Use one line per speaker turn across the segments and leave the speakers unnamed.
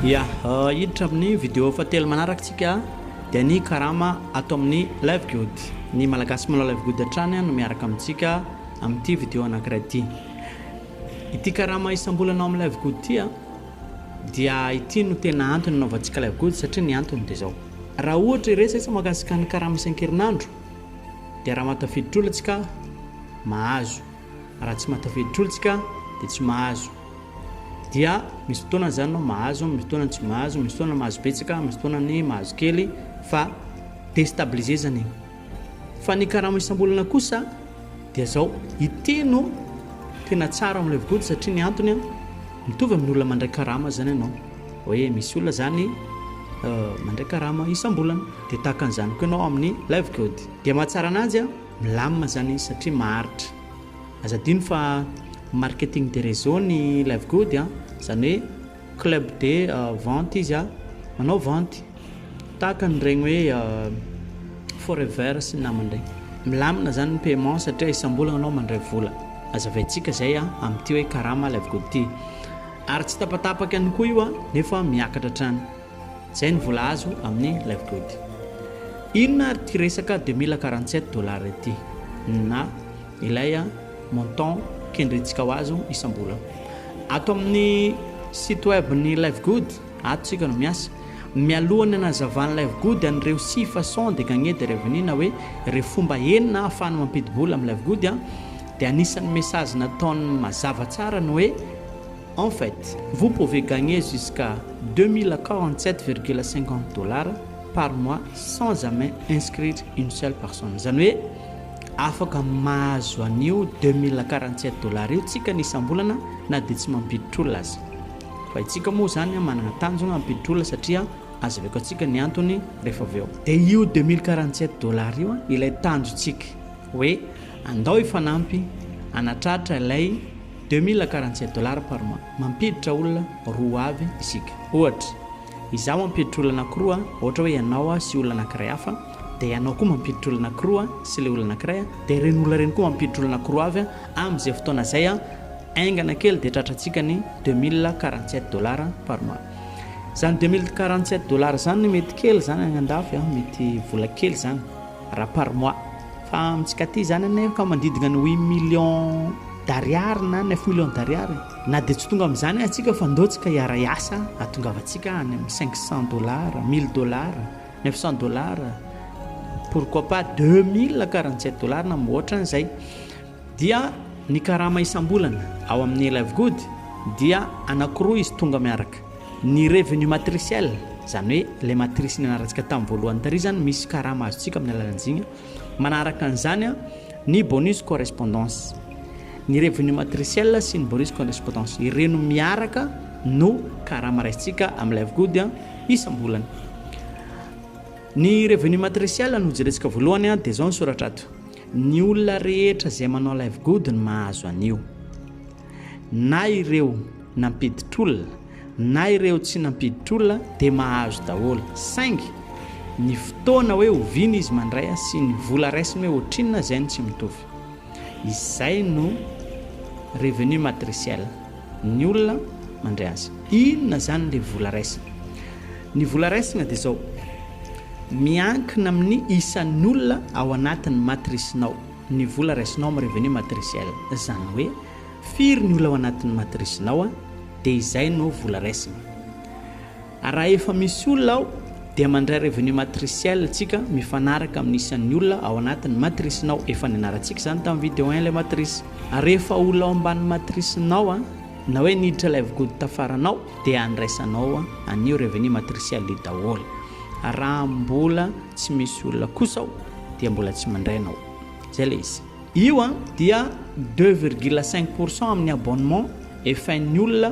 Ya, euh, hiditra amin'ny vidéo fahatelo manaraka tsika dia ny karama ato amin'ny live good ny malagasy manao live good hatrany no miaraka amintsika amin'ity vidéo anankiray ity ity karama isam-bolana ao amin'ny live good ity Dia ity no tena antony anaovantsika ilay gody satria ny antony dia izao. Raha ohatra hiresaka mahakasika ny karama isan-kerinandro dia raha mahatafiditra isika mahazo, raha tsy mahatafiditra isika dia tsy mahazo. Dia misy fotoana izany ianao mahazo, misy fotoana tsy mahazo, misy fotoana mahazo betsaka, misy fotoana ny mahazo kely fa destabiliser izany. Fa ny karama isam-bolana kosa dia izao, i Teno tena tsara amin'ilay vody satria ny antony a, mitovy amin'ny olona mandray karama izany ianao, hoe misy olona izany mandray karama isam-bolana dia tahaka an'izany koa ianao amin'ny live code. Dia mahatsara ananjy a, milamina izany izy satria maharitra. Aza adino fa marketing de réseau ny live code a, izany hoe. Club de vente izy a, manao vente tahaka an'ireny hoe forever sy ny namany ireny. Milamina izany ny paiement satria isam-bolana ianao mandray vola. Hazavaintsika izay amin'ity hoe karama lay vokatra ity. Ary tsy tapatapaka ihany koa io nefa miakatra hatrany. Izay ny vola azo amin'ny life good. Inona ary ity resaka deux mille quarante sept dollars ity na Ilay montant kendrentsika ho azo isam-bolana. Ato amin'ny site web ny Livegood, ato isika no miasa. Mialohan'ny hanazavan'ny Livegood an'ireo six façons de gagner des revenus na hoe ireo fomba enina ahafahana mampidi-bola amin'ny Livegood dia anisan'ny message nataony mazava tsara ny hoe En fait, vous pouvez gagner jusqu'à deux mille quarante sept virgule cinquante dollars par mois sans jamais inscrire une seule personne. Izany hoe, Afaka mahazo an'io deux mille quarante sept dollars io tsika ny isam-bolana na dia tsy mampiditra olona aza. Fa itsika moa izany manana tanjona hampiditra olona satria azaveko antsika ny antony rehefa avy eo. Dia io deux mille quarante sept dollars io ilay tanjontsika hoe andao hifanampy hanatratra ilay deux mille quarante sept dollars par mois. Mampiditra olona roa avy isika. Ohatra. Izaho mampiditra olona anankiroa ohatra hoe ianao aho sy olona anankiray hafa dia ianao koa mampiditra olona anankiroa sy ilay olona anankiray dia ireny olona ireny koa mampiditra olona anankiroa avy amin'izay fotoana izay haingana kely dia tratrantsika ny deux mille quarante sept dollars par mois izany deux mille quarante sept dollars izany mety kely izany any an-dafy mety vola kely izany Ra par mois. Fa amintsika aty izany anie efa manodidina ny huit millions d'ariary na neuf millions d'ariary. Na dia tsy tonga amin'izany aza antsika fa ndao tsika hiaray asa hatongavantsika any amin'ny cinq cents dollars, mille dollars, neuf cents dollars, pourquoi pas deux mille quarante sept dollars na mihoatra an'izay. Dia ny karama isam-bolana ao amin'ny Livegood dia anankiroa izy tonga miaraka. Ny revenu matriciel, izany hoe ilay matrisy nianarantsika tamin'ny voalohany tary izany, misy karama azontsika amin'ny alalan'izigny. Manaraka an'izany ny bonus correspondance. Ny revenu matriciel sy ny bonus correspondance, ireno miaraka no karama raisintsika amin'ny Livegood isam-bolana. Ny revenu matriciel no jerentsika voalohany dia izao ny soratra ato. Ny olona rehetra izay manao live good no mahazo an'io. Na ireo nampiditr'olona na ireo tsy nampiditr'olona dia mahazo daholo. Saingy ny fotoana hoe oviana izy mandray sy ny vola raisiny hoe ohatrinona izay no tsy mitovy. Izay no revenu matriciel. Ny olona mandray azy. Inona izany ilay vola raisina? Ny vola raisina dia izao, miankina amin'ny isan'ny olona ao anatin'ny matrice-nao ny vola raisinao amin'ny revenu matriciel. Izany hoe firy ny olona ao anatin'ny matrice-nao dia izay no vola raisina. Raha efa misy olona ao dia mandray revenu matriciel tsika mifanaraka amin'ny isan'ny olona ao anatin'ny matrice-nao, efa nianarantsika izany tamin'ny video un ilay matrice. Ary rehefa olona ao ambanin'ny matrice-nao na hoe niditra ilay vgod tafaranao dia andraisanao an'io revenu matriciel io daholo. Ary raha mbola tsy misy olona kosa ao dia mbola tsy mandray ianao. Izay ilay izy. Io dia deux virgule cinq pour cent amin'ny abonnement efain'ny olona.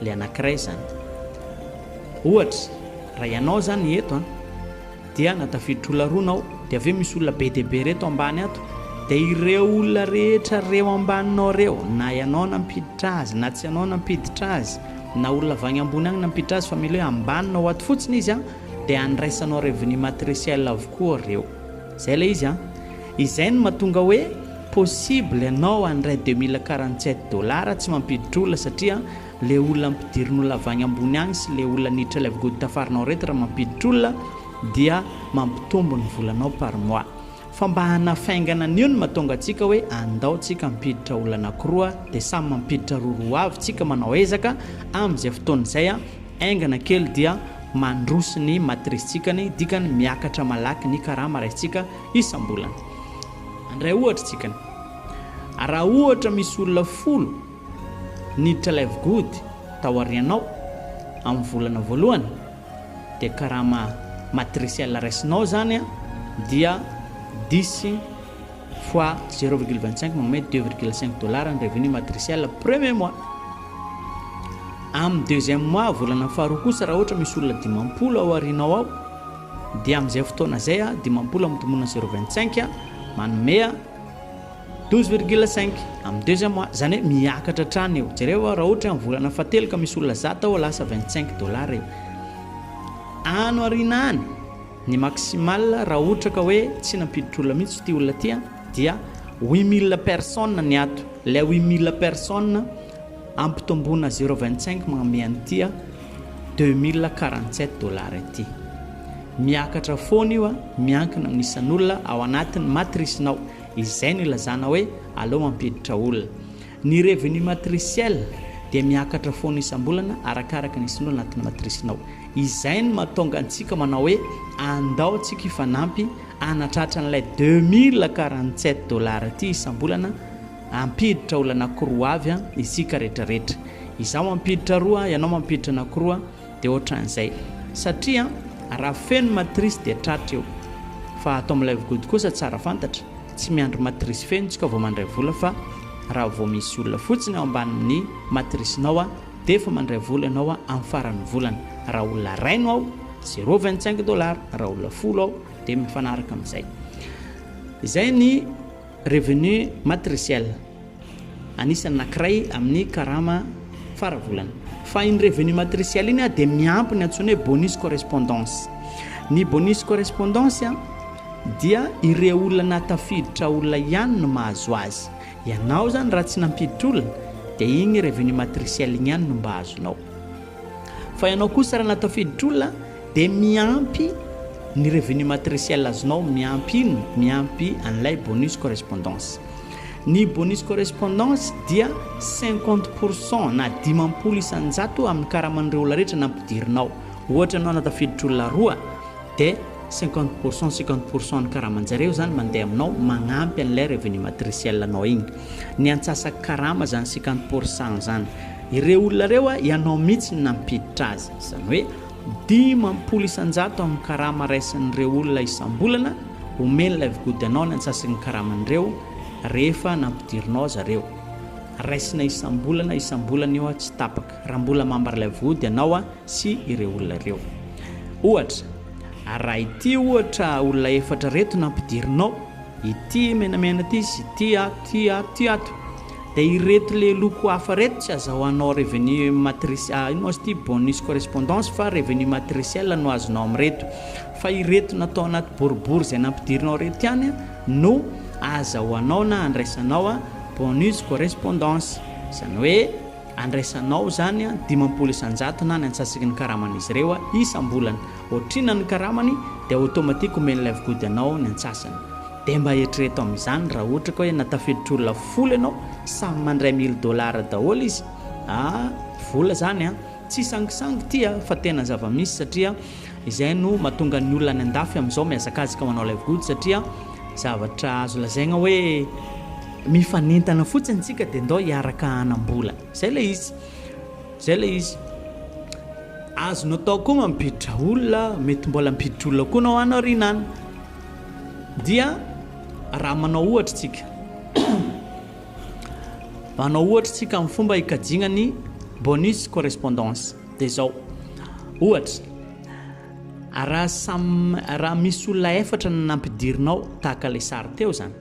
le anakiray izany. Ohatra, raha ianao izany eto an, dia na tafiditra olona roa nao, dia avy eo misy olona be dia be reto ambany ato, dia ireo olona rehetra reo ambaninao reo, na ianao nampiditra azy, na tsy ianao nampiditra azy, na olona avy any ambony any nampiditra azy, fa mila hoe ambaninao ato fotsiny izy an, dia andraisanao revenu matriciel avokoa reo. Zay ilay izy an! Izay no mahatonga hoe possible ianao handray deux mille quarante sept dollars tsy mampiditra olona satria le olona ampidirin'olona avy agny ambony agny sy le olona niditra ilay vgody tafarinao reto raha mampiditra olona dia mampitombo ny volanao par mois fa mba hanafaingana an'io no mahatonga antsika hoe andao tsika hampiditra olona anakiroa dia samy mampiditra roa roa avy tsika manao ezaka amin'izay fotoana izay an! Haingana kely dia mandroso ny matrice-tsika, ny dikany miakatra malaky ny karama raisintsika isam-bolana. Handray ohatra isika. Raha ohatra misy olona folo niditra ilay vigody tao aorianao amin'ny volana voalohany, dia karama matriciel raisinao izany dia dix fois zéro virgule vingt cinq manome deux virgule cinq dollars ny revenu matriciel premier mois amin'ny deuxième mois volana faharoa kosa raha ohatra misy olona dimampolo ao aorianao ao dia amin'izay fotoana izay a dimampolo amin'ny tomonina zéro vingt cinq a manome a douze virgule cinq amin'ny deuxième mois izany hoe miakatra hatrany io jereo a raha ohatra amin'ny volana fahatelo ka misy olona zata ao lasa vingt cinq dollars io ano aoriana any Ny maximal raha ohtra ka hoe tsy nampiditra olona mihitsy ity olona ity an, dia huit mille personnes ny ato, ilay huit mille personnes ampitomboina zéro vingt cinq magnome an'ity an deux mille quarante sept dollars ity. Miakatra foana io an, miankina amin'ny isan'olona ao anatin'ny matrice-nao, izay no ilazana hoe aleo mampiditra olona. Ny revenu matriciel dia miakatra foana isam-bolana arakaraka ny sinoa anatin'ny matrice-nao. Izay no mahatonga antsika manao hoe andao tsika hifanampy hanatratra an'ilay deux mille quarante sept dollars ity isam-bolana hampiditra olona anankiroa avy isika rehetrarehetra. Izaho mampiditra roa, ianao mampiditra anankiroa. Dia ohatran'izay. Satria raha feno matrice dia tratra eo. Fa ato amin'ny live gody kosa tsara fantatra, tsy miandry matrice feno tsika vao mandray vola fa raha vao misy olona fotsiny ao ambanin'ny matricenao dia efa mandray vola ianao amin'ny faran'ny volana. Raha olona iray no ao, zero vingt cinq dollars, raha olona folo ao dia mifanaraka amin'izay. Izay ny. Revenu matriciel, anisan'ny anankiray amin'ny karama fara volana. Fa iny revenu matriciel iny dia miampy ny antsoina hoe bonus correspondance. Ny bonus correspondance dia ireo olona nahatafiditra olona ihany no mahazo azy. Ianao izany raha tsy nampiditra olona dia iny revenu matriciel iny ihany no mba azonao. Fa ianao kosa raha nahatafiditra olona, Dia miampy ny revenu matriciel azonao, miampy inona? Miampy an'ilay bonus correspondance. Ny bonus correspondance dia cinquante pour cent na dimampolo isan-jato amin'ny karaman'ireo olona rehetra nampidirinao. Ohatra ianao na tafiditra olona roa dia cinquante pour cent, cinquante pour cent ny karaman-jareo izany mandeha aminao magnampy an'ilay revenu matriciel anao iny. Ny antsasa-karama izany cinquante pour cent izany. Ireo olona ireo ianao mihitsy no nampiditra azy. Izany hoe. Dimampolo isan-jato amin'ny karama raisin'ireo olona isam-bolana omeny Livegood anao ny antsasaky ny karaman'ireo rehefa nampidirinao zareo. Raisina isam-bolana isam-bolana io tsy tapaka raha mbola mambra Livegood ianao sy ireo olona ireo. Ohatra, raha ity ohatra olona efatra ireto nampidirinao, ity menamena ity sy ity ato, ity ato, ity ato. Dia ireto le loko hafa reto tsy azahoanao revenu matrice ah ino ma izy ty bonus correspondance fa revenu matriciel no azonao amin'ireto. Fa ireto natao anaty boribory izay nampidirinao ireto ihany no azahoanao na andraisanao a bonus correspondance. Izany hoe andraisanao izany a dimampolo isan-jato na ny antsasaky ny karaman'izy ireo isam-bolana. Ohatr'inona ny karamany dia automatique omen'ilay vgody anao ny antsasany. Dia mba eritrereto amin'izany raha ohatra ka hoe na tafidittr'olona folo ianao, samy mandray mille dollars daholo izy a, vola izany a, tsy sangisangy ity a, fa tena zava-misy satria izay no mahatonga ny olona any andafy amin'izao mihazakazaka manao live good satria zavatra azo lazaina hoe mifanentana fotsiny isika dia ndao hiaraka hanam-bola, izay ilay izy, izay ilay izy. Azonao atao koa mampiditra olona, mety mbola hampiditra olona koa ianao any aoriana any. Dia raha manao ohatra isika, manao ohatra isika amin'ny fomba hikajiana ny bonus correspondance dia izao, ohatra, raha samy raha misy olona efatra no nampidirinao tahaka ilay sary teo izany,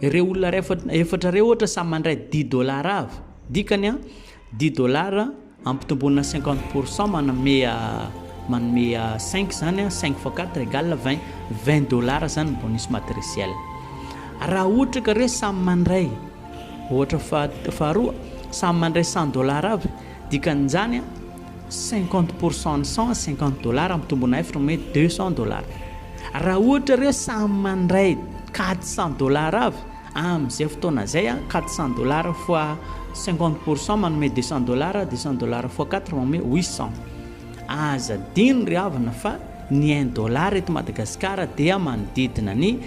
ireo olona rehefa efatra ireo ohatra samy mandray dix dollars avy, dikany an, dix dollars. Ampitomboina cinquante pour cent manome manome cinq zany cinq fois quatre égale vingt vingt dollars zany ny bonus matriciel raha ohatra ka re samy mandray ohatra fa faharoa samy mandray cent dollars avy dikan'izany cinquante pour cent ny cent cinquante dollars ampitomboina efatra manome deux cent dollars raha ohatra re samy mandray quatre cent dollars avy Amin'izay fotoana izay, quatre cents dollars fois cinquante pour cent manome deux cents dollars, deux cents dollars fois quatre manome huit cents. Aza adino ry havana fa ny un dollar eto Madagasikara dia manodidina ny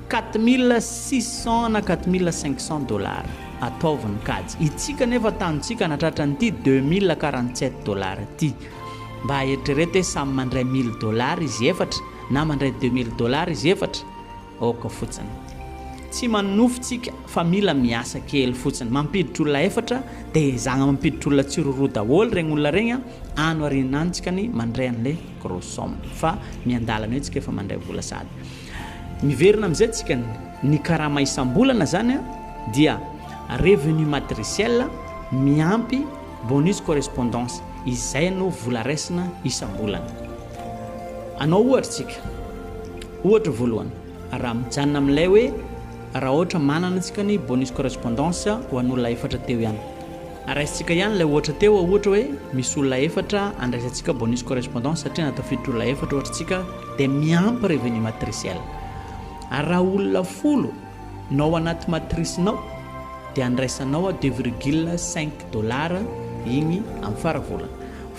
quatre mille six cents na quatre mille cinq cents dollars. Ataovy ny kajy. Itsika anefa tanintsika nahatratra an'ity deux mille quarante sept dollars ity. Mba eritrereto hoe samy mandray mille dollars izy efatra na mandray deux mille dollars izy efatra. Ok fotsiny. Tsy manonofy tsika fa mila miasa kely fotsiny. Mampiditra olona efatra de ezahagna mampiditra olona tsy roroa daholo regny olona regny a. Ano arinina any tsika ny mandray anle gros somme fa miandalana eo tsika efa mandray vola sady miverina amzay tsika ny ny karama isambolana zany a dia revenu matriciel miampy bonus correspondance izay no vola raisina isambolana. Anao ohatra tsika. Ohatra voalohany, raha mijanona amin'ilay hoe raha ohatra manana isika ny bonus correspondance ho an'olona efatra teo ihany. Raisintsika ihany ilay ohatra teo, ohatra hoe misy olona efatra andraisantsika bonus correspondance satria nahatafiditra olona efatra ohatra isika dia miampy revenu matriciel. Ary raha olona folo no ao anaty matrice-nao dia andraisanao deux virgule cinq dollars iny amin'ny fara volana.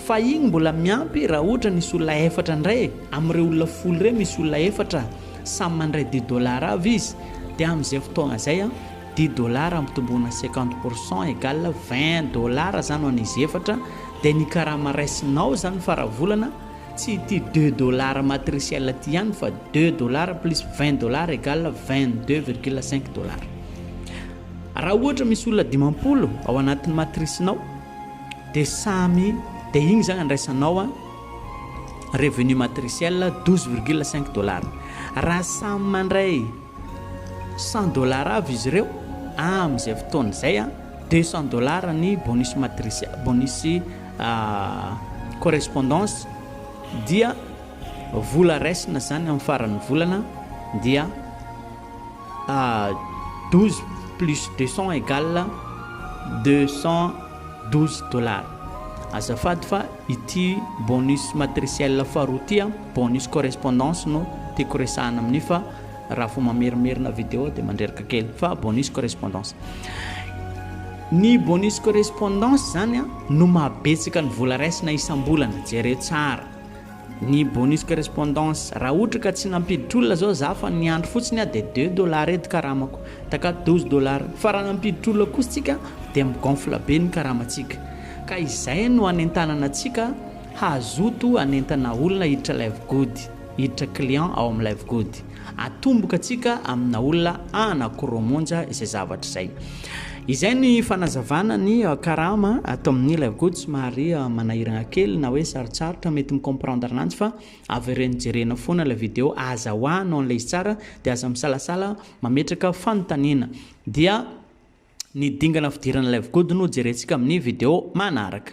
Fa iny mbola miampy raha ohatra nisy olona efatra indray e, amin'ireo olona folo ireo misy olona efatra samy mandray dix dollars avy izy dia amin'izay fotoagna izay an, dix dollars ampitomboina cinquante pour cent égale vingt dollars izany ho an'izy efatra dia ny karama raisinao izany fara volana tsy ity deux dollars matriciel ity ihany fa deux dollars plus vingt dollars égale vingt deux virgule cinq dollars. Raha ohatra misy olona dimampolo ao anatin'ny matrisinao, De samy de igny zany andraisanao an revenu matriciel douze virgule cinq dollars raha samy mandray cent dollars avy izy ireo amin izay fotoana izay an deux cent dollars ny bonus matriciel bonus correspondance dia vola raisina zany amin faran ny volana dia douze plus deux cent egal deux cent douze dollars. Azafady fa ity bonus matriciel faharoa ity an, bonus correspondance no tiako resahana amin'io fa raha vao mamerimerina video dia mandreraka kely fa bonus correspondance. Ny bonus correspondance izany an no mahabetsaka ny vola raisina isam-bolana, jereo tsara. Ny bonus correspondance, raha ohatra ka tsy nampiditra olona zao za fa niandry fotsiny aho dia deux dollars edy karamako, taka douze dollars, fa raha nampiditra olona kosa tsika dia mi gonfle be ny karamatsika, ka izay no anentanana antsika hazoto anentana olona hiditra live good, hiditra client ao amin'ny live good. Atomboka antsika amina olona anankiroa monja izay zavatra izay. Izay ny fanazavana ny karama ato amin'ny ilay gojo somary manahirana kely na hoe sarotsarotra mety mi-comprendre ananjy fa avereno jerena foana ilay video aza ho anao an'ilay izy tsara dia aza misalasala mametraka fanontaniana dia ny dingana fidirana ilay gojo no jerentsika amin'ny video manaraka.